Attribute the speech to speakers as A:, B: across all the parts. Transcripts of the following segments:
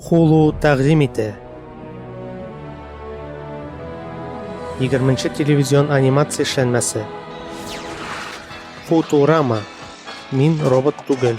A: Хулу тәкъдим итә. 20 телевизион анимация эшләнмәсе. Футурама. Мин робот түгел.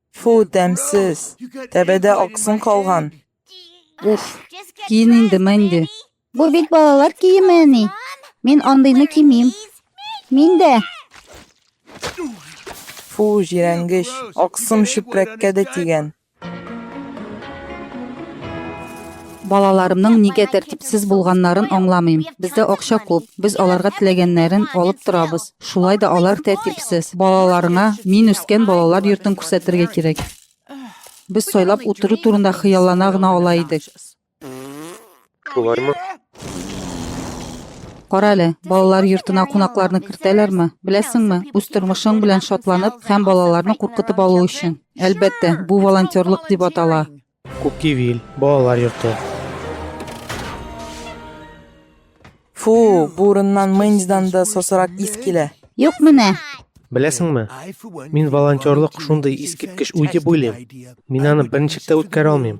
A: Фу, тәмсез. Тәбәдә аксын калган. Уф, киен инде, Мэнди. Бу бит балалар киеме, әни. Мин андыйны кимим. Мин дә. Фу, җирәнгеч. Аксым чүпрәккә дә тигән. Балаларымның нигә тәртипсез булганнарын аңламыйм. Бездә акча күп. Без аларга теләгәннәрен алып торабыз. Шулай да алар тәртипсез. Балаларыңа мин үскән балалар йортын күрсәтергә кирәк. Без сайлап утыру турында хыяллана гына ала идек. Шулаймы? Кара әле, балалар йортына кунакларны кертәләрме? Беләсеңме, үз тормышың белән шатланып һәм балаларны куркытып алу өчен. Әлбәттә, бу волонтерлык дип атала. Кукивиль, балалар йорты. Фу, бу урыннан Мэнсдан да сосырак ис килә. Юк менә. Беләсеңме? Мин волонтерлык шундый искиткеч уй дип уйлыйм. Мин аны берничек тә үткәрә алмыйм.